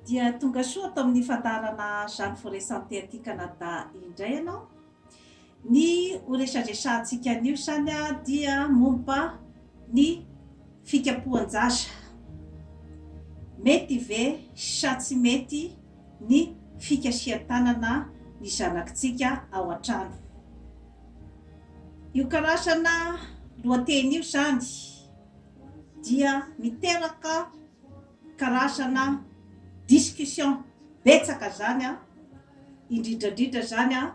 Dia tonga soa ato amin'ny fandaharana Jeanne Forêt Santé aty Canada indray ianao. Ny ho resadresahantsika anio izany dia momba ny fikapohan-jaza. Mety ve sa tsy mety ny fikasihan-tanana ny zanakitsika ao an-trano? Io karazana lohateny io izany dia miteraka karazana discussion betsaka izany an, indrindra indrindra izany an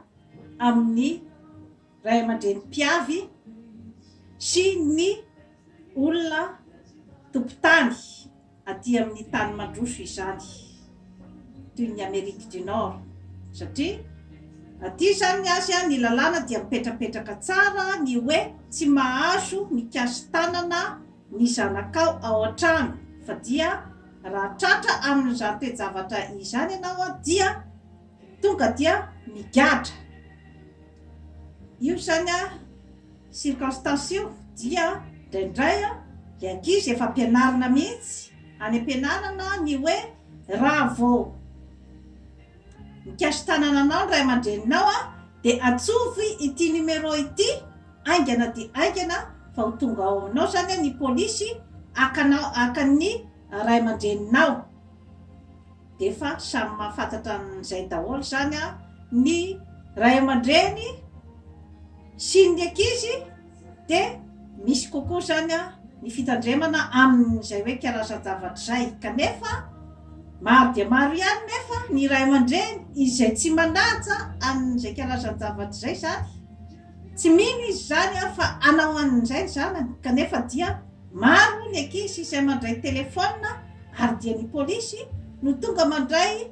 amin'ny ray aman-dreny mpiavy sy ny olona tompon-tany aty amin'ny tany mandroso izany toy ny Amerique du Nord satria aty izany ny azy an ny lalàna dia mipetrapetraka tsara ny hoe tsy mahazo mikasi-tanana ny zanakao ao an-trano fa dia raha tratra amin'izany toe-javatra izany ianao dia tonga dia migadra. Io izany circonstance io dia indraindray ilay ankizy efa ampianarina mihitsy any am-pianarana ny hoe raha vao mikasi-tanana anao ny ray aman-dreninao dia antsovo ity numéro ity, Haingana dia haingana fa ho tonga ao aminao izany ny polisy haka anao haka ny ray aman-dreninao. Dia efa samy mahafantatra an'izay daholo izany ny ray aman-dreny sy ny ankizy dia misy kokoa izany ny fitandremana amin'izay hoe karazan-javatra izay. Kanefa maro dia maro ihany nefa ny ray aman-dreny izay tsy manaja an'izay karazan-javatra izay izany. Tsy mino izy izany an, fa hanao an'izay ny zanany, kanefa dia maro ny ankizy izay mandray telefaonina ary dia ny polisy no tonga mandray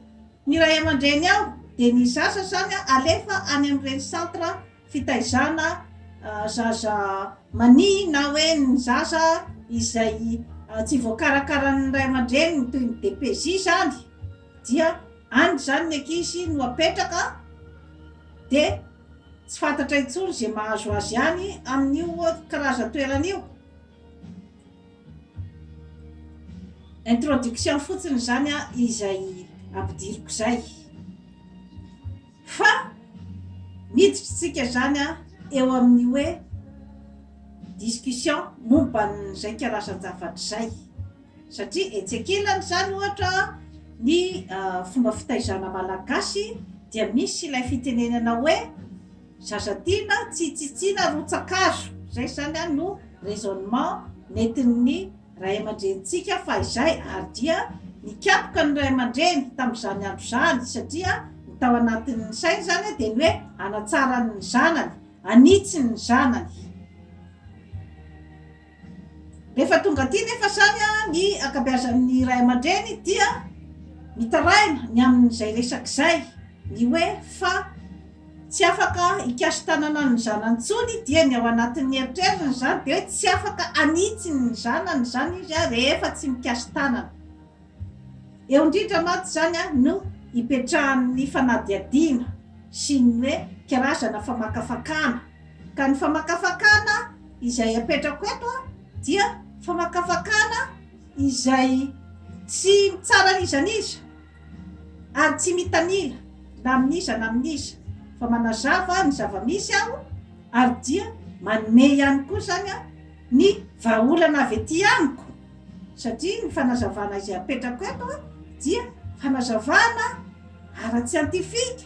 ny ray aman-dreny ao, dia ny zaza izany an alefa any amin'ireny centre fitaizana zaza mania na hoe ny zaza izay tsy voakarakaran'ny ray aman-dreniny toy ny DPJ izany dia any izany ny ankizy no apetraka dia Tsy fantatra intsony izay mahazo azy any amin'io karazan-toerana io. Introduction fotsiny izany izay ampidiriko izay. Fa miditra isika izany eo amin'ny hoe discussion momba an'izay karazan-javatra izay. Satria etsy ankilany izany ohatra ny fomba fitaizana malagasy dia misy ilay fitenenana hoe zaza tiana tsy tsitsiana rotsa-kazo, izay izany an no raisonnement nentin'ny ray aman-drenintsika fahizay ary dia nikapoka ny ray aman-dreny tamin'izany andro izany satria ny tao anatin'ny sainy izany dia ny hoe hanatsara ny zanany, hanitsy ny zanany. Rehefa tonga aty nefa sahy ny ankabeazan'ny ray aman-dreny dia mitaraina ny amin'izay resaka izay, ny hoe fa tsy afaka hikasi-tanana ny zanany intsony dia ny ao anatin'ny eritreriny izany dia hoe tsy afaka hanitsy ny zanany izany izy rehefa tsy mikasi-tanana. Eo indrindra mantsy izany no ipetrahan'ny fanadihadiana sy ny hoe karazana famakafakana. Ka ny famakafakana izay apetrako eto dia famakafakana izay tsy mitsara an'iza n'iza ary tsy mitanila na amin'iza na amin'iza fa manazava ny zava-misy aho ary dia manome ihany koa izany ny vahaolana avy ety amiko. satria ny fanazavana izay apetrako eto dia fanazavana ara-tsiantifika,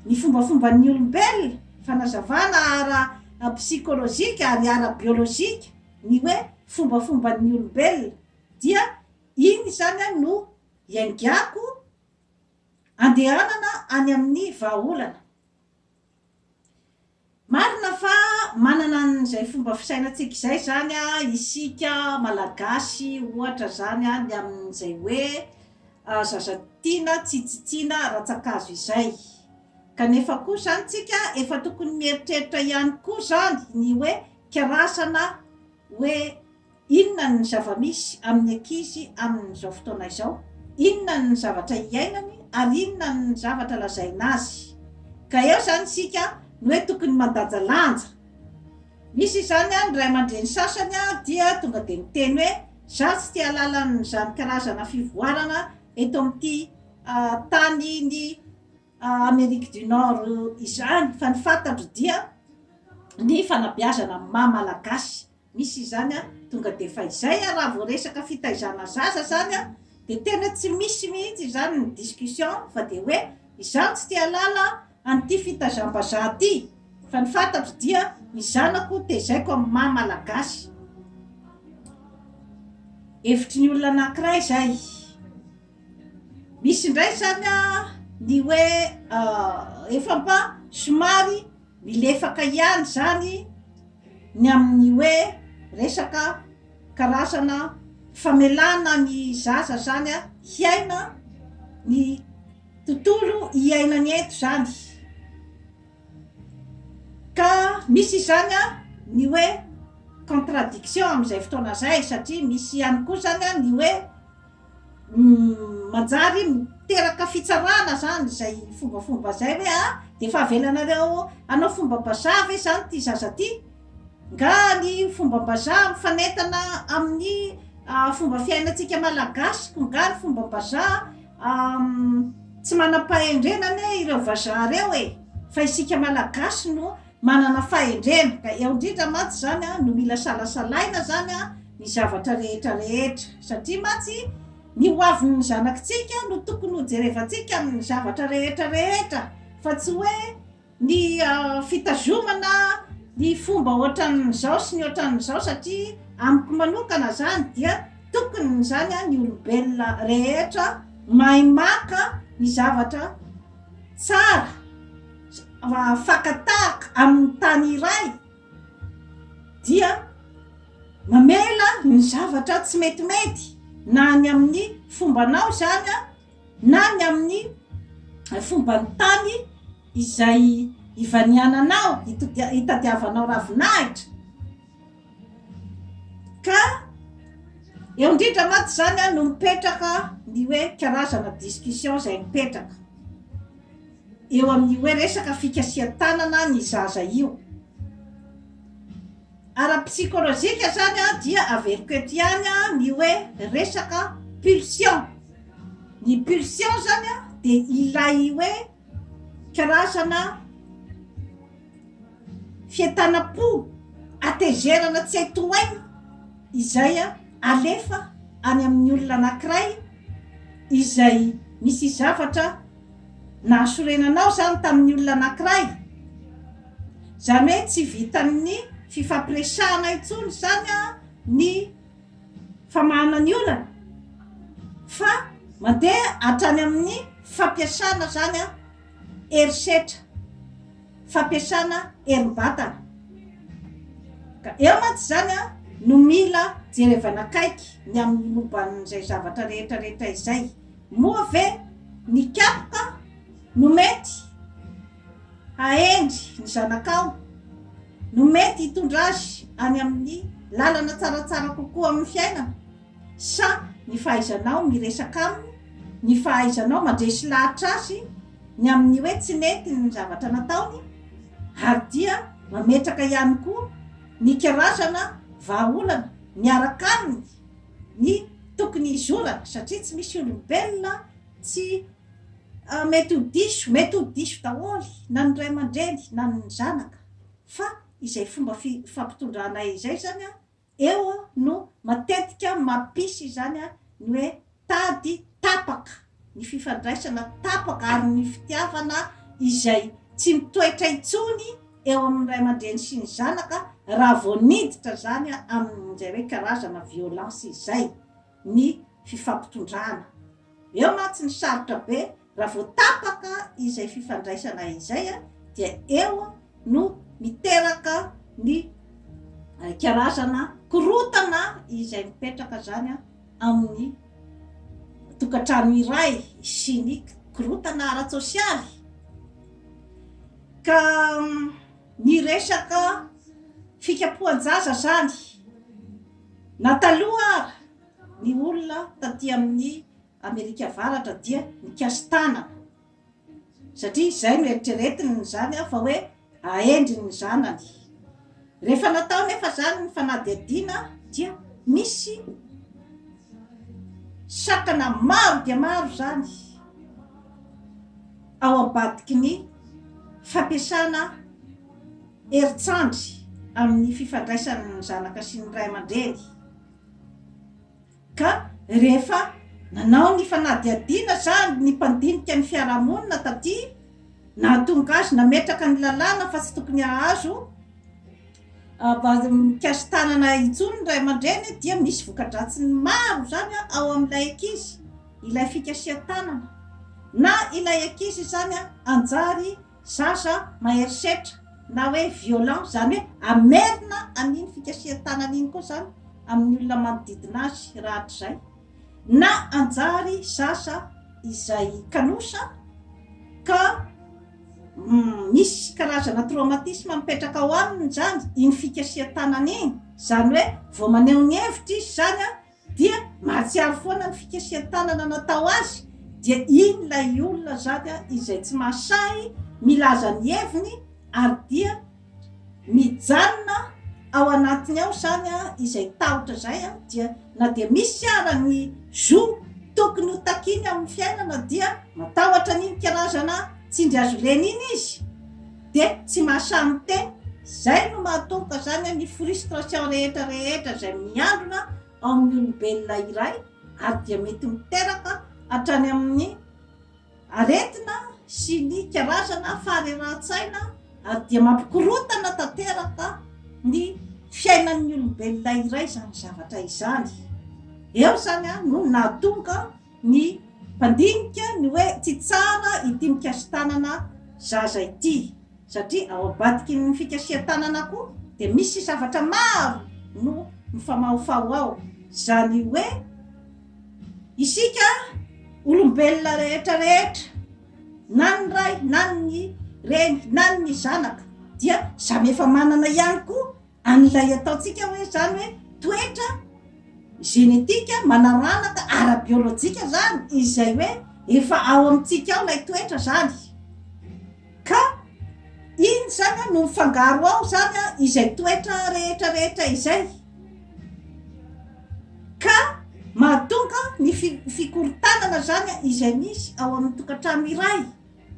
ny fombafomban'ny olombelona, fanazavana ara-psikolojika ary ara-biolojika, ny hoe fombafomban'ny olombelona dia iny izany no iaingako andehanana any amin'ny vahaolana. Marina fa manana an'izay fomba fisainantsika izay izany isika Malagasy ohatra izany ny amin'izay hoe zaza tiana tsy tsitsiana rantsan-kazo izay. Kanefa koa izany tsika efa tokony mieritreritra ihany koa izany ny hoe kirarsana hoe. Inona ny zava-misy amin'ny ankizy amin'izao fotoana izao? Inona ny zavatra iainany ary inona ny zavatra lazaina azy? Ka eo izany isika no hoe tokony mandanjalanja. Misy izany ny ray aman-dreny sasany dia tonga dia miteny hoe izaho tsy te hahalala an'izany karazana fivoarana eto amin'ity tanin'i Amerique du Nord izany fa ny fantatro dia ny fanabeazana maha malagasy. Misy izany an, tonga dia fahizay an, raha vao resaka fitaizana zaza izany an, dia tena tsy misy mihitsy izany ny discussion fa dia hoe izaho tsy te halala an'ity fitazam-bazaha ity fa ny fantatro dia ny zanako tezaiko amin'ny maha malagasy. Hevitry ny olona anankiray izay. Misy indray zany a ny hoe efa mba somary milefaka ihany zany ny amin'ny hoe resaka karazana famelana ny zaza zany a hiaina ny tontolo iainany eto zany ka misy izany a ny hoe contradiction amizay fotoana zay satria misy ihany koa zany a ny hoe Manjary miteraka fitsarana zany izay fombafomba izay hoe a dia efa avelanareo hanao fombam-bazaha ve izany ity zaza ity? Nga ny fombam-bazaha mifanentana amin'ny fomba fiainantsika malagasy koa nga ny fombam-bazaha tsy manam-pahendrena anie ireo vazaha ireo e! Fa isika malagasy no Manana fahendrena, ka eo indrindra mantsy izany no mila salasalaina izany ny zavatra rehetra rehetra, satria mantsy ny hoavin'ny zanakitsika no tokony hojerevantsika amin'ny zavatra rehetra rehetra, fa tsy hoe ny fitazomana ny fomba ohatran'izao sy ny ohatran'izao, satria amiko manokana izany dia tokony izany ny olombelona rehetra mahay maka ny zavatra tsara. mahafakan-tahaka amin'ny tany iray dia mamela ny zavatra tsy metimety na ny amin'ny fombanao izany a na ny amin'ny fomban'ny tany izay ivaniananao, itadiavanao ravinahitra. Ka eo indrindra mantsy izany no mipetraka ny hoe karazana discussion izay mipetraka eo amin'ny hoe resaka fikasihan-tanana ny zaza io. Ara-psikolojika izany dia averiko eto ihany ny hoe resaka pulsion. Ny pulsion izany dia ilay hoe. karazana fientanam-po hatezerana tsy hay tohaina izay alefa any amin'ny olona anankiray izay nisy zavatra nahasorenana ao izany tamin'ny olona anankiray, izany hoe tsy vitan'ny fifampiresahana intsony izany ny. famahana ny olana fa mandeha hatrany amin'ny fampiasana izany herisetra, fampiasana herim-batana. Ka eo mantsy izany no mila jerevana akaiky ny amin'ny momban'izay zavatra rehetrarehetra izay. Moa ve ny kapa no mety hahendry ny zanakao? no mety hitondra azy any amin'ny lalana tsaratsara kokoa amin'ny fiainana? Sa ny fahaizanao miresaka aminy, ny fahaizanao mandresy lahatra azy ny amin'ny hoe tsy nety ny zavatra nataony, ary dia mametraka ihany koa ny karazana vahaolana miaraka aminy ny tokony hizorana satria tsy misy olombelona tsy Ah, mety ho diso, mety ho diso daholo na ny ray aman-dreny na ny zanaka, fa izay fomba fi, fampitondranay izay izany an, eo an, no matetika mampisy izany an, ny hoe tady tapaka, ny fifandraisana tapaka ary ny fitiavana izay tsy mitoetra intsony eo amin'ny ray aman-dreny sy ny zanaka raha vao niditra izany an, amin'izay hoe karazana violence izay. ny fifampitondrana. Eo mantsy ny sarotra be, raha vao tapaka izay fifandraisana izay dia eo no miteraka ny karazana korotana izay mipetraka zany amin'ny tokantrano iray sy ny korotana ara-tsosialy. Ka ny resaka fikapohan-jaza zany. Na taloha ary, ny olona taty amin'ny Amerika Avaratra dia nikasi-tanana, satria izay no eritreretiny izany aho fa hoe ahendry ny zanany. Rehefa natao anefa izany ny fanadihadiana dia misy sakana maro dia maro izany ao ambadiky ny fampiasana herin-tsandry amin'ny fifandraisan'ny zanaka sy ny ray aman-dreny ka rehefa nanao ny fanadihadiana izany ny mpandinika ny fiarahamonina taty nahatonga azy nametraka ny lalàna fa tsy tokony hahazo mikasi-tanana intsony ny ray aman-dreny dia misy voka-dratsiny maro izany ao amin'ilay ankizy ilay fikasihan-tanana na ilay ankizy izany hanjary Zaza mahery setra na hoe violent zany hoe hamerina an'iny fikasihan-tanany iny koa zany amin'ny olona manodidina azy rahatrizay na hanjary zaza izay kanosa ka misy karazana traumatisme mipetraka ao aminy zany iny fikasihan-tanany iny, zany hoe vao maneho ny hevitra izy zany Dia mahatsiaro foana ny fikasihan-tanana natao azy, dia iny ilay olona zany izay tsy mahasahy milaza ny heviny ary dia mijanona ao anatiny ao zany izay tahotra izay, dia na dia misy ara ny zo tokony ho takiny amin'ny fiainana dia matahotra an'iny karazana tsindry azo reny iny izy, dia tsy mahasahy miteny, izay no mahatonga izany ny frustration rehetra rehetra izay miandrona ao amin'ny olombelona iray ary dia mety miteraka hatrany amin'ny aretina sy ny karazana faharerahan-tsaina ary dia mampikorotana tanteraka ny fiainan'ny olombelona iray izany zavatra izany, eo izany no nahatonga ny mpandinika ny hoe tsy tsara ity mikasi-tanana zaza ity satria ao ambadiky ny fikasihan-tanana koa dia misy zavatra maro no mifamahofaho ao, izany hoe isika olombelona rehetra rehetra na ny ray na ny reny na ny zanaka dia samy efa manana ihany koa an'ilay ataontsika hoe zany hoe toetra genetika, manaranaka ara-biolojika zany izay hoe efa ao amintsika ao lay toetra zany ka iny zany a no mifangaro ao zany a izay toetra rehetra rehetra izay ka mahatonga ny fi- fikorontanana zany a izay misy ao amin'ny tokantrano iray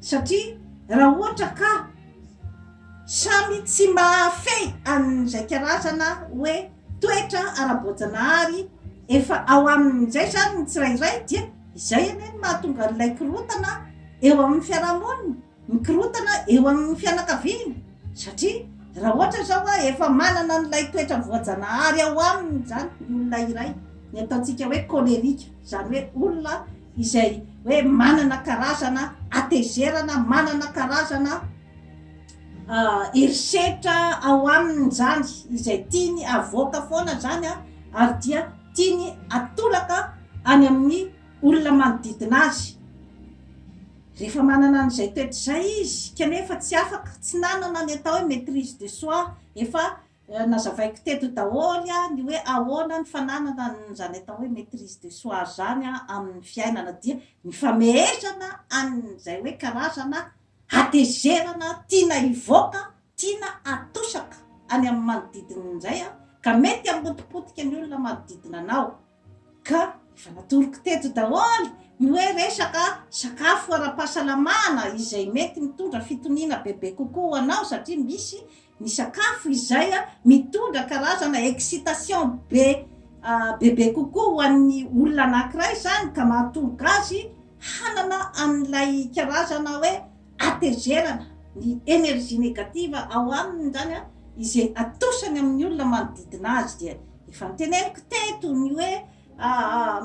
Satria raha ohatra ka samy tsy mahafehy an'izay karazana hoe toetra ara-boajanahary efa ao aminy izay izany ny tsirairay dia izay anie no mahatonga an'ilay korontana eo amin'ny fiarahamonina, ny korontana eo amin'ny fianakaviana. Satria raha ohatra izao hoe efa manana an'ilay toetra voajanahary ao aminy izany ny olona iray, ny ataontsika hoe cholerika, izany hoe olona. izay hoe manana karazana hatezerana, manana karazana herisetra ao aminy izany, izay tiany havoaka foana izany ary dia tiany hatolaka any amin'ny olona manodidina azy. Rehefa manana an'izay toetra izay izy kanefa tsy afaka, tsy nanana ny atao hoe maitrise de soi, efa Nazavaiko teto daholo ny hoe ahoana ny fananana an'izany atao hoe maitrise de soi izany amin'ny fiainana dia ny fameezana an'izay hoe karazana hatezerana tiana hivoaka, tiana atosaka any amin'ny manodidina indray ka mety hamotipotika ny olona manodidina anao. Ka efa natoroko teto daholo ny hoe resaka sakafo ara-pahasalamana izay mety mitondra fitoniana bebe kokoa ho anao satria misy ny sakafo izay mitondra karazana excitation be bebe kokoa ho an'ny olona anankiray izany ka mahatonga azy hanana an'ilay karazana hoe hatezerana ny energie negative ao aminy izany izay atosany amin'ny olona manodidina azy dia efa noteneniko teto ny hoe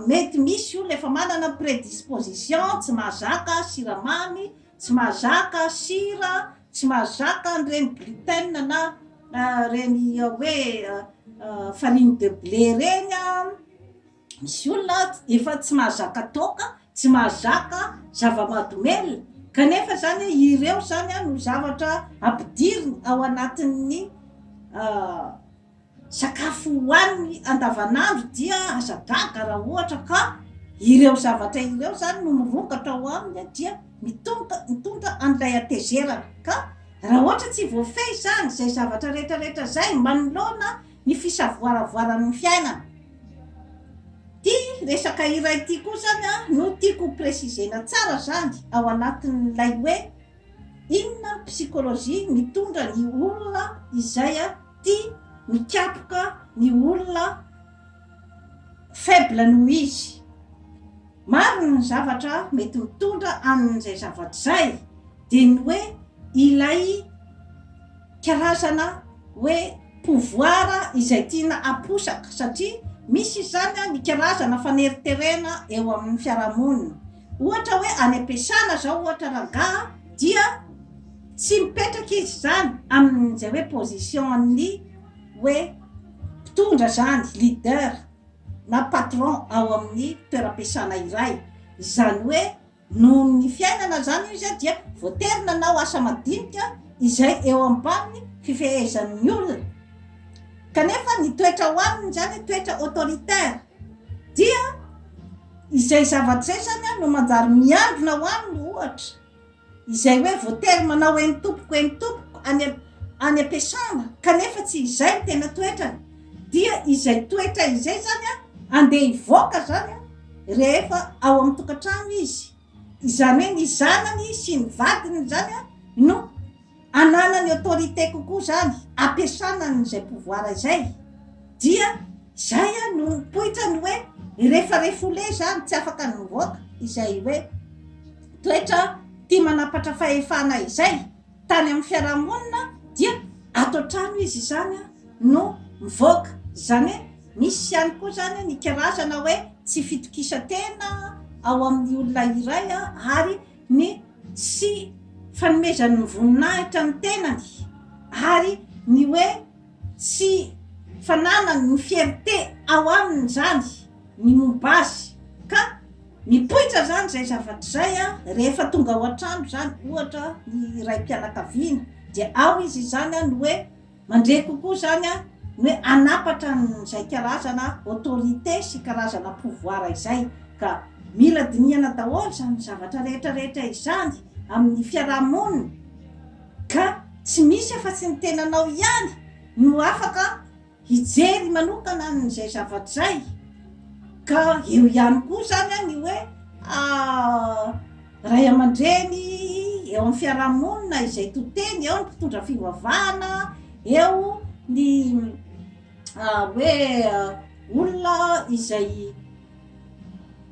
mety misy olona efa manana predisposition tsy mahazaka siramamy tsy mahazaka sira tsy mahazaka an'ireny gluten na ireny hoe farine de blé ireny Misy olona ato efa tsy mahazaka toaka, tsy mahazaka zava-mahadomelina, kanefa izany ireo izany no zavatra ampidiriny ao anatin'ny sakafo hohaniny andavanandro dia aza gaga raha ohatra ka ireo zavatra ireo izany no mirongatra ao aminy dia mitonta mitondra an'ilay hatezerana ka raha ohatra tsy voafehy izany izay zavatra rehetra rehetra izay manoloana ny fisavoaravoaran' ny fiainana. Ity resaka iray ity koa izany no tiako ho préciser-na tsara izany ao anatin' ilay hoe inona ny psychologie mitondra ny olona izay tia mikapoka ny olona faible noho izy. Maro ny zavatra mety ho tonga amin'izay zavatra izay, dia ny hoe ilay karazana hoe pouvoir izay tiana haposaka, satria misy izy izany ny karazana faneriterena eo amin'ny fiarahamonina. Ohatra hoe any am-piasana izao ohatra rangaha dia tsy mipetraka izy izany amin'izay hoe position-n'ny hoe mpitondra izany, leader. na patron ao amin'ny toeram-piasana iray. Izany hoe noho ny fiainana izany io izay dia voatery nanao asa madinika izay eo ambanin'ny fifehezan'ny olona. Kanefa ny toetra ao aminy izany toetra autoritaire. Dia izay zavatra izay izany no manjary miandrona ao aminy ohatra. Izay hoe voatery manao eny tompoko eny tompoko any any am-piasana kanefa tsy izay ny tena toetrany dia izay toetra izay izany an, andeha hivoaka izany an, rehefa ao amin'ny tokantrano izy, izany hoe ny zanany sy ny vadiny izany an no. ananany autorité kokoa zany ampiasana an izay pouvoir izay dia zay an no mipoitra ny hoe refa refoule zany tsy afaka ny mivoaka izay hoe toetra tia manampatra fahefana izay tany amin'ny fiarahamonina dia ato an-trano izy izany an no mivoaka zany hoe misy ihany koa zany an ny karazana hoe tsy fitokisantena ao amin'ny olona iray an ary ny sy fanomezany ny voninahitra ny tenany ary ny hoe tsy fananany ny fierté ao aminy zany ny momba azy ka mipoitra zany zay zavatra zay a rehefa tonga ao an-trano zany ohatra ny raim-pianakaviana dia ao izy izany a ny hoe Mandre kokoa izany ny hoe hanapatra an'izay karazana autorité sy karazana pouvoir izay. Ka mila dinihana daholo izany zavatra rehetra rehetra izany amin'ny fiaraha-monina ka tsy misy afa-tsy ny tenanao ihany no afaka hijery manokana an'izay zavatra izay. Ka eo ihany koa izany ny hoe. Ray aman-dreny eo amin'ny fiarahamonina izay to-teny, eo ny mpitondra fivavahana, eo ny hoe olona izay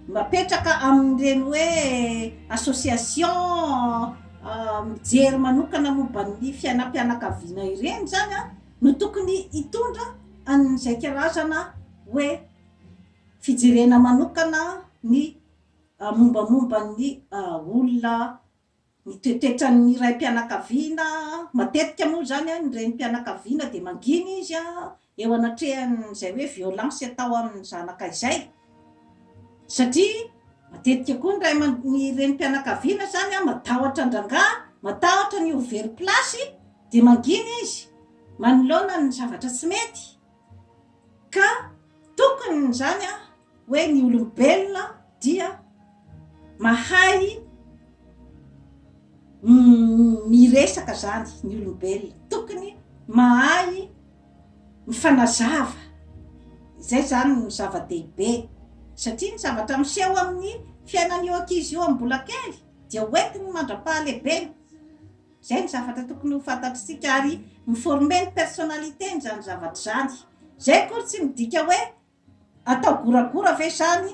mapetraka amin'ireny hoe association mijery manokana momba ny fiainam-pianakaviana ireny izany an, no tokony hitondra an'izay karazana hoe fijerena manokana ny. Mombamomba ny olona ny toetran-ny raim-pianakaviana, matetika moa izany ny renim-pianakaviana dia mangina izy eo anatrehan'izay hoe violence atao amin'ny zanaka izay satria matetika koa ny ray aman ny renim-pianakaviana izany matahotra an-drangahy, matahotra ny ho very place dia mangina izy manoloana ny zavatra tsy mety Ka tokony izany hoe ny olombelona dia mahay miresaka izany ny olombelona, tokony mahay mifanazava, izay izany no zava-dehibe satria ny zavatra miseho amin'ny fiainan'io ankizy io amin'ny mbola kely dia hoentiny mandra-pahalehibeny. Izay no zavatra tokony ho fantatr'isika ary mi-former ny personnalité-ny izany zavatra izany. Izay akory tsy midika hoe atao goragora ve izany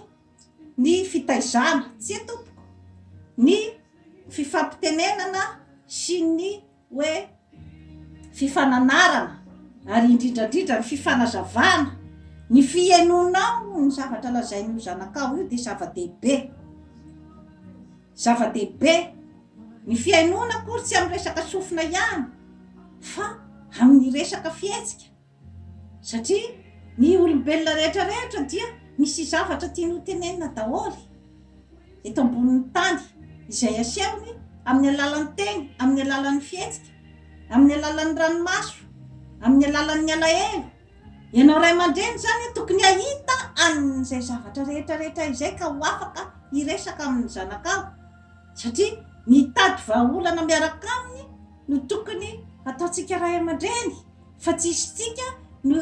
ny fitaizana, tsia tompoko, ny fifampitenenana sy ny hoe fifananarana ary indrindra indrindra ny fifanazavana, ny fihenoanao ny zavatra lazain'io zanakao io dia zava-dehibe. Zava-dehibe ny fihainoana akory tsy amin'ny resaka sofina ihany fa amin'ny resaka fihetsika satria ny olombelona rehetra rehetra dia misy zavatra tiany ho tenenina daholo eto ambonin'ny tany izay asehony amin'ny alalan'ny teny, amin'ny alalan'ny fihetsika, amin'ny alalan'ny ranomaso, amin'ny alalan'ny alahelo. Ianao ray aman-dreny izany tokony hahita an'izay zavatra rehetra rehetra izay ka ho afaka hiresaka amin'ny zanakao satria mitady vahaolana miaraka aminy no tokony hataontsika ray aman-dreny fa tsy isika no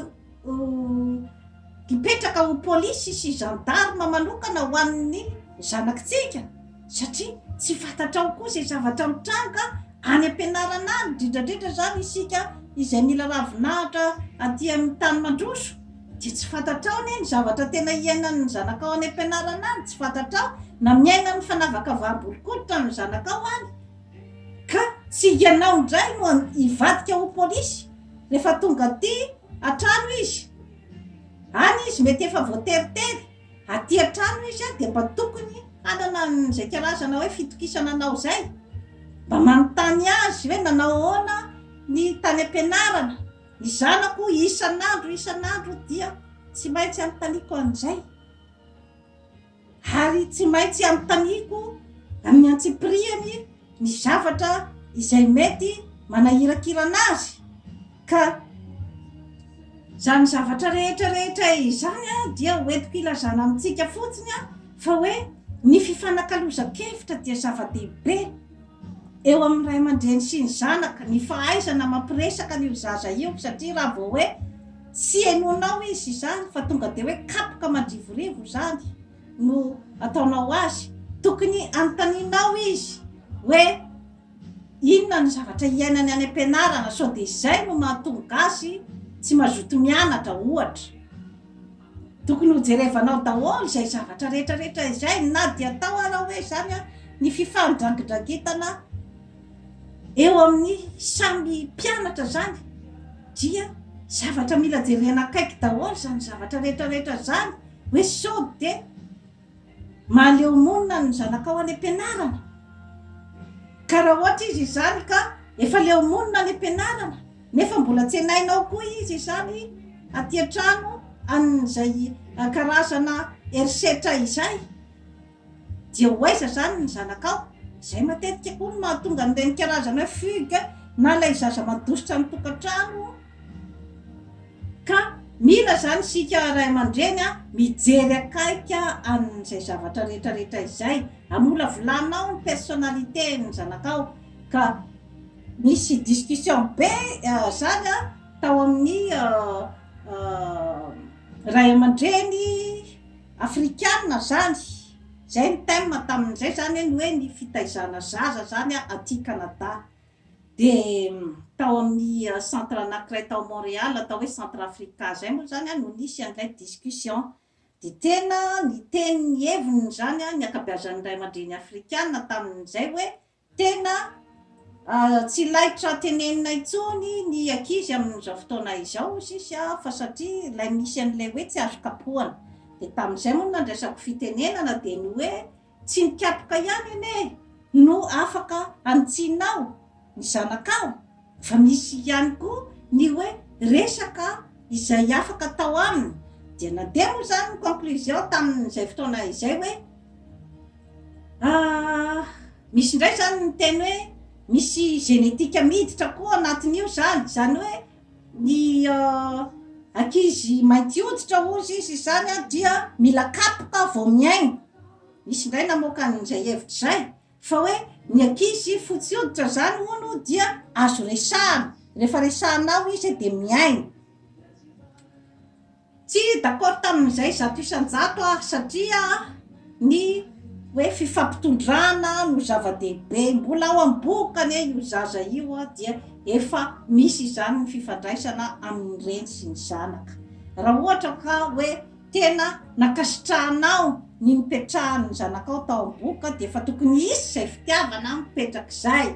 hipetraka ho polisy sy gendarme manokana ho an'ny zanakitsika. satria tsy fantatrao koa izay zavatra mitranga any am-pianarana any, indrindra indrindra izany isika izay mila ravinahitra aty amin'ny tany mandroso dia tsy fantatrao anie ny zavatra tena iainan'ny zanakao any am-pianarana any, tsy fantatrao na miainan'ny fanavaka vaham-bolon-koditra ny zanakao any, ka tsy ianao indray no hivadika ho polisy rehefa tonga aty an-trano izy, any izy mety efa voateritery. Aty an-trano izy dia mba tokony hanana an'izay kalazana hoe fitokisana anao izay. Mba manontany azy hoe nanao ahoana ny tany am-pianarana. Ny zanako isan'andro isan'andro dia tsy maintsy anontaniako an'izay. Ary tsy maintsy anontaniako amin'ny antsipirihany ny zavatra izay mety manahirakirana azy. Ka izany zavatra rehetra rehetra izany dia hoentiko hilazana amintsika fotsiny fa hoe ny fifanakalozan-kevitra dia zava-dehibe eo amin'ny ray aman-dreny sy ny zanaka, ny fahaizana mampiresaka an'io zaza io, satria raha vao hoe tsy henoinao izy izany fa tonga dia hoe kapoka mandrivorivo izany no ataonao azy, tokony hanontanianao izy hoe. Inona no zavatra iainany any am-pianarana sao dia izay no mahatonga azy tsy mazoto mianatra ohatra? Tokony ho jerevanao daholo izay zavatra rehetra rehetra izay na dia atao ara hoe izany ary ny fifandrangindrangetana eo amin'ny samy mpianatra izany dia zavatra mila jerena akaiky daholo izany zavatra rehetra rehetra izany hoe sao dia Mahaleo monina ny zanakao any am-pianarana? Karaha ohatra izy izany ka efa leo monina any am-pianarana nefa mbola tsenainao koa izy izany aty an-trano an'izay karazana herisetra izay. Dia ho aiza izany ny zanakao? Izay matetika koa no mahatonga an'ireny karazana fugue na ilay zaza mandositra ny tokantrano. Ka mila izany isika ray aman-dreny mijery akaiky an'izay zavatra rehetra rehetra izay. Amolavolanao ny personnalité-n'ny zanakao. Ka nisy discussion be izany tao amin'ny ray aman-dreny afrikana izany. Izay ny thème tamin'izay izany ny hoe ny fitaizana zaza izany aty Canada. Dia tao amin'ny centre anankiray tao Montréal, atao hoe centre Africa izay moa izany no nisy an'ilay discussion. Dia tena niteny ny heviny izany ny ankabeazan'ny ray aman-dreny afrikana tamin'izay hoe tena tsy laitra tenenina intsony ny ankizy amin'izao fotoana izao sisa fa satria ilay misy an'ilay hoe tsy azo kapohana. Dia tamin'izay moa no nandraisako fitenenana dia ny hoe. Tsy ny kapoka ihany anie no afaka hanitsianao ny zanakao fa misy ihany koa ny hoe resaka izay afaka atao aminy dia na dia moa izany ny conclusion tamin'izay fotoana izay hoe aah misy indray izany ny miteny hoe misy génétique miditra koa anatin'io izany izany hoe Ny ankizy mainty hoditra hozy izy izany dia mila kapoka vao mihaino. Nisy indray namoaka an'izay hevitra izay fa hoe ny ankizy fotsy hoditra izany hono dia azo resahana, rehefa resahanao izy dia mihaino. Tsy d'accord tamin'izay zato isan-jato aho satria ny hoe fifampitondrana no zava-dehibe, mbola ao amin'ny bohoka anie io zaza io dia efa misy izany ny fifandraisana amin'ny reny sy ny zanaka, raha ohatra ka hoe tena nankasitrahanao ny nipetrahan'ny zanakao tao amin'ny bohoka dia efa tokony hisy izay fitiavana mipetrak'izay,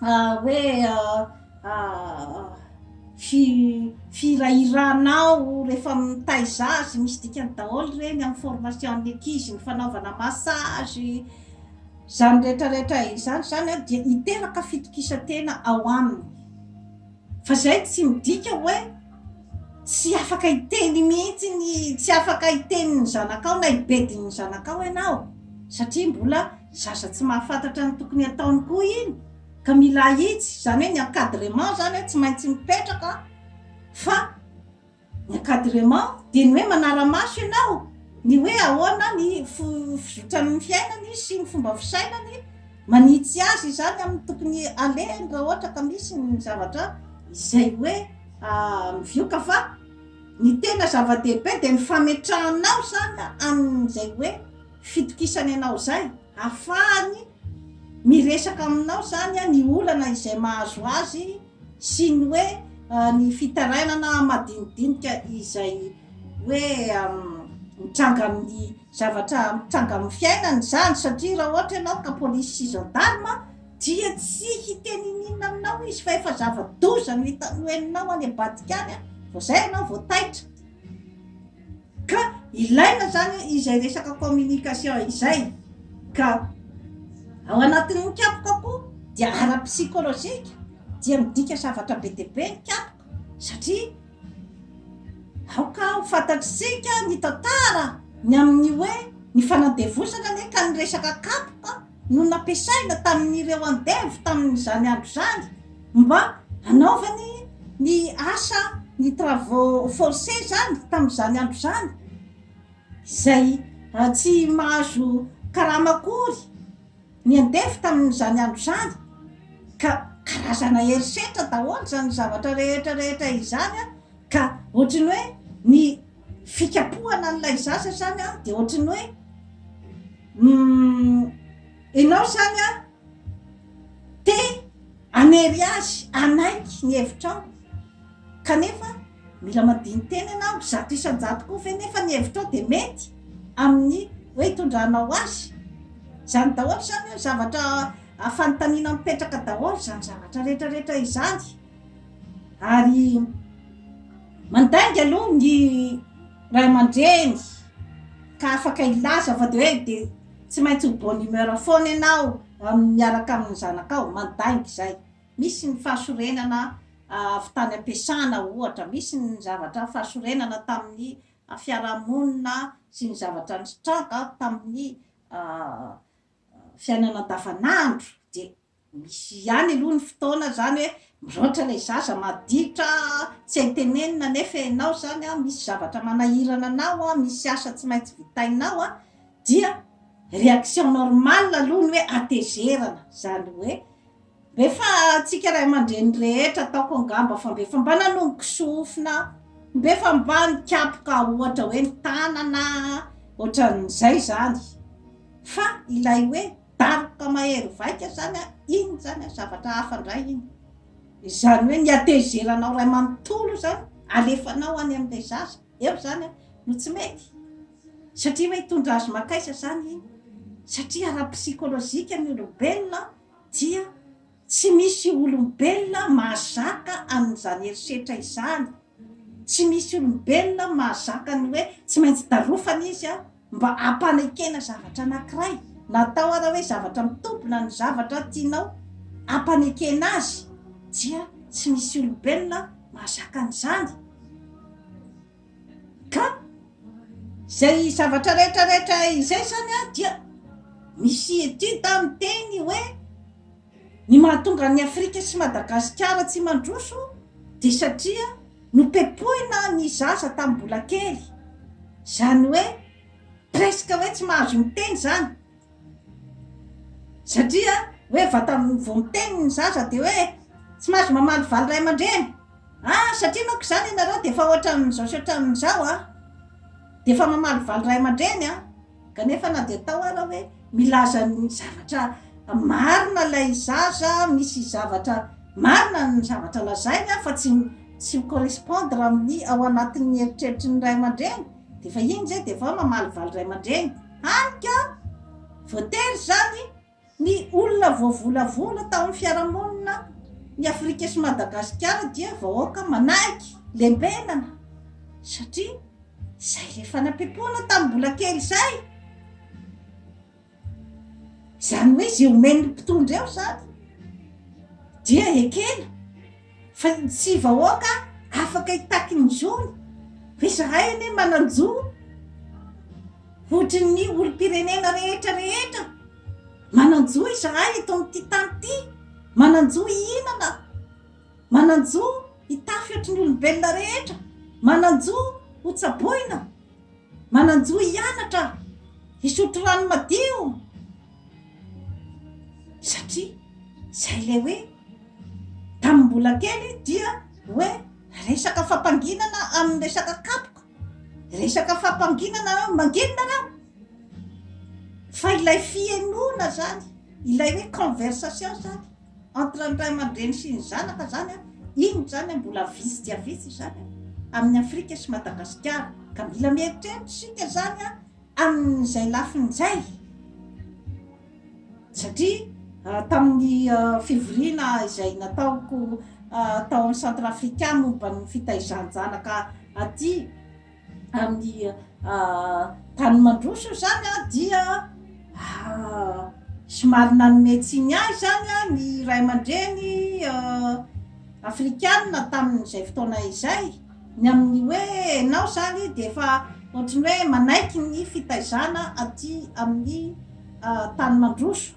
hoe firahirahanao rehefa mitaiza azy misy dikany daholo ireny amin'ny formation'ny ankizy ny fanaovana massage izany rehetrarehetra izany izany dia hiteraka fitokisantena ao aminy Fa izay tsy midika hoe tsy afaka hiteny mihitsy ny, tsy afaka hiteny ny zanakao na hibedy ny zanakao ianao, satria mbola zaza tsy mahafantatra ny tokony hataony koa iny, ka mila ahitsy, izany hoe ny encadrement izany tsy maintsy mipetraka fa. Ny encadrement dia ny hoe manara-maso ianao ny hoe ahoana ny fizotran'ny fiainany sy ny fomba fisainany, manitsy azy izany amin'ny tokony alehany raha ohatra ka misy ny zavatra izay hoe mivioka fa ny tena zava-dehibe dia ny fametrahanao izany amin'izay hoe fitokisany anao izay. Afahany miresaka aminao izany ny olana izay mahazo azy sy ny hoe ny fitarainana madinidinika izay hoe mitranga amin'ny zavatra mitranga amin'ny fiainany izany satria raha ohatra ianao ka polisy sy gendarme dia tsy hiteny ininona aminao izy fa efa zava-doza no hita no henonao any ambadika any vao izay ianao vao taitra. Ka ilaina zany izay resaka communication izay ka ao anatin'ny kapoka koa dia ara psychologique dia midika zavatra be dia be ny kapoka satria aoka ho fantatsika ny tantara ny amin'ny hoe ny fanandevozana anie ka ny resaka kapoka no nampiasaina tamin'ireo andevo tamin'izany andro izany mba hanaovany ny asa ny travaux forcés izany tamin'izany andro izany izay tsy mahazo karama akory ny andevo tamin'izany andro izany ka karazana herisetra daholo izany zavatra rehetra rehetra izany an ka ohatry ny hoe ny fikapohana an'ilay zaza izany an dia ohatry ny hoe Humm enao zany an te hanery azy hanaiky ny hevitrao kanefa mila madiniteny enao, zato isan-jato koa ve nefa ny hevitrao de mety amin'ny hoe hitondranao azy? zany daholo zany hoe zavatra fanontaniana mipetraka daholo zany zavatra retraretra izany ary Mandainga aloha ny ray aman-dreny ka afaka hilaza fa dia hoe dia tsy maintsy ho bonne humeur foana ianao miaraka amin'ny zanakao, mandainga izay. Misy ny fahasorenana avy tany am-piasana ohatra, misy ny zavatra fahasorenana tamin'ny fiarahamonina sy ny zavatra nitranga tamin'ny fiainana andavanandro dia Misy ihany aloha ny fotoana zany hoe miraotra ilay zaza maditra tsy hay tenenina nefa ianao zany misy zavatra manahirana anao an, misy asa tsy maintsy vitainao an, dia reaction normale aloha ny hoe hatezerana zany hoe mbe fa antsika ray aman-dreny rehetra ataoko angamba fa mbe fa mba nanomboka sofina an, mbe fa mba nikapoka ohatra hoe ny tanana an, ohatran'izay zany fa ilay hoe Daroka mahery vaika zany a, inn zany a, zavatra hafa ndray iny. Izany hoe ny hatezeranao ray manontolo izany alefanao any amin'ilay zaza eo zany a no tsy mety? Satria hoe hitondra azy makaisa zany iny, satria ara-psikolojika ny olombelona dia Tsy misy olombelona mahazaka an'izany herisetra izany. Tsy misy olombelona mahazaka ny hoe tsy maintsy darofana izy mba hampanekena zavatra anankiray. Natao ary hoe zavatra mitombina ny zavatra tianao hampanekena azy, dia tsy misy olombelona mahazaka an'izany. Ka izay zavatra rehetra rehetra izay zany a dia misy etude miteny hoe ny mahatonga an'i Afrika sy Madagasikara tsy mandroso dia satria nopepohina ny zaza tamin'ny mbola kely, izany hoe presque hoe tsy mahazo miteny izany, Satria hoe vata vao miteny ny zaza dia hoe tsy mahazo mamaly valy ray aman-dreny ah satria manko izany ianareo dia efa ohatran'izao sy ohatran'izao an! dia efa mamaly valy ray aman-dreny an! kanefa na dia atao ara hoe milaza ny zavatra marina ilay zaza, misy zavatra marina ny zavatra lazainy an fa tsy tsy mi correspondre amin'ny ao anatin'ny eritreritry ny ray aman-dreny dia efa iny izay dia efa hoe mamaly valy ray aman-dreny. Hany ka, voatery izany ny olona voavolavola tao amin'ny fiarahamonina ny Afrika sy Madagasikara dia vahoaka manaiky lembenana satria izay le fanampipoana tamin'ny mbola kely izay izany hoe izay omen'ny mpitondra eo izany dia ekena Fa ny tsy vahoaka afaka hitaky ny zony? Fa izahay anie manan-jo ohatry ny olom-pirenena rehetra rehetra. Manan-jo izahay eto amin'ity tany ity, manan-jo hihinana, manan-jo hitafy ohatry ny olombelona rehetra, manan-jo hotsaboina, manan-jo hianatra, hisotro rano madio, satria izay ilay hoe. Tamin'ny mbola kely dia hoe resaka fampanginana amin'ny resaka kapoka, resaka fampanginana hoe manginina nareo? Fa ilay fihenoana zany, ilay hoe conversation zany entre ny ray aman-dreny sy ny zanaka zany an, iny zany mbola vitsy dia vitsy izany amin'ny Afrika sy Madagasikara. Ka mila mieritreritra isika zany an, amin'izay lafiny izay. Satria tamin'ny fivoriana izay nataoko tao amin'ny Centre Africain momba ny fitaizan-janaka aty amin'ny tany mandroso izany dia somary nanome tsiny ahy izany ny ray aman-dreny afrikana tamin'izay fotoana izay. Ny amin'ny hoe enao izany dia efa ohatry ny hoe manaiky ny fitaizana aty amin'ny tany mandroso.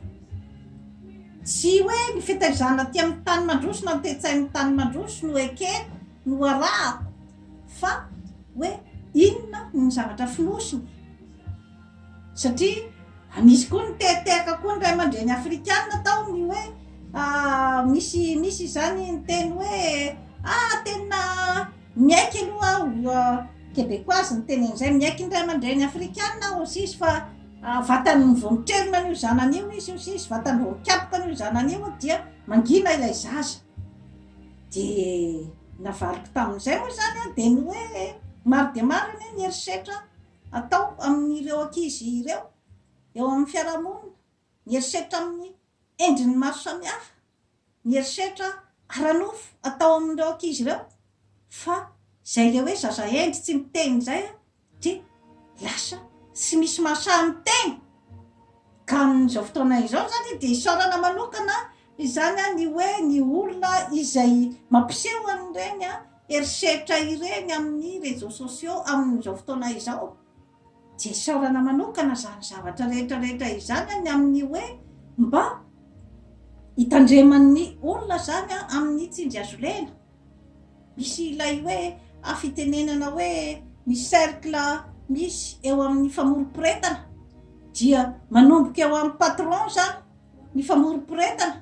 Tsy hoe ny fitaizana aty amin'ny tany mandroso na ny toe-tsain'ny tany mandroso no ekeko, no arahako fa hoe inona ny zavatra fonosiny. Satria misy koa ny tehatehaka koa ny ray aman-dreny afrikana tao ny hoe misy misy izany niteny hoe ah tena miaiky aloha aho quebecoise niteny an'izay miaiky ny ray aman-dreny afrikana aho hoy izy fa vatany vao miterina an'io zanany io izy hoy izy vatany vao mikapoka an'io zanany io dia mangina ilay zaza dia navaliko tamin'izay moa izany dia ny hoe maro dia maro anie ny herisetra atao amin'ireo ankizy ireo eo amin'ny fiarahamonina, mierisetra amin'ny endriny maro samihafa, ny herisetra ara-nofo atao amin'ireo ankizy ireo fa izay ilay hoe zaza hendry tsy miteny izay dia lasa tsy misy mahasahy miteny ka amin'izao fotoana izao izany dia isaorana manokana izany ny hoe ny olona izay mampiseho an'ireny herisetra ireny amin'ny réseaux sociaux amin'izao fotoana izao dia isaorana manokana izany zavatra rehetra rehetra izany an ny amin'ny hoe mba hitandreman'ny olona izany an amin'ny tsinjy azolena misy ilay hoe afitenenana hoe ny cercle misy eo amin'ny famoroporetana dia manomboka eo amin'ny patron izany ny famoroporetana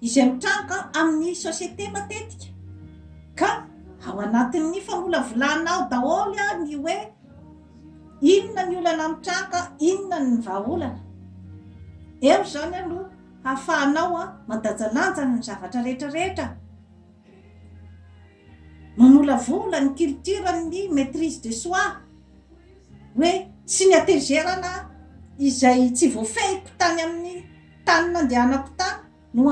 izay mitranga amin'ny société matetika ka ao anatin'ny famolavolana ao daholo ny hoe inona ny olana mitranga, inona ny vahaolana. Eo izany aloha hahafahanao mandajalanja ny zavatra rehetra rehetra, mamolavola ny culture ny maitrise de soi hoe tsy ny hatezerana izay tsy voafehiko tany amin'ny tany nandehanako tany no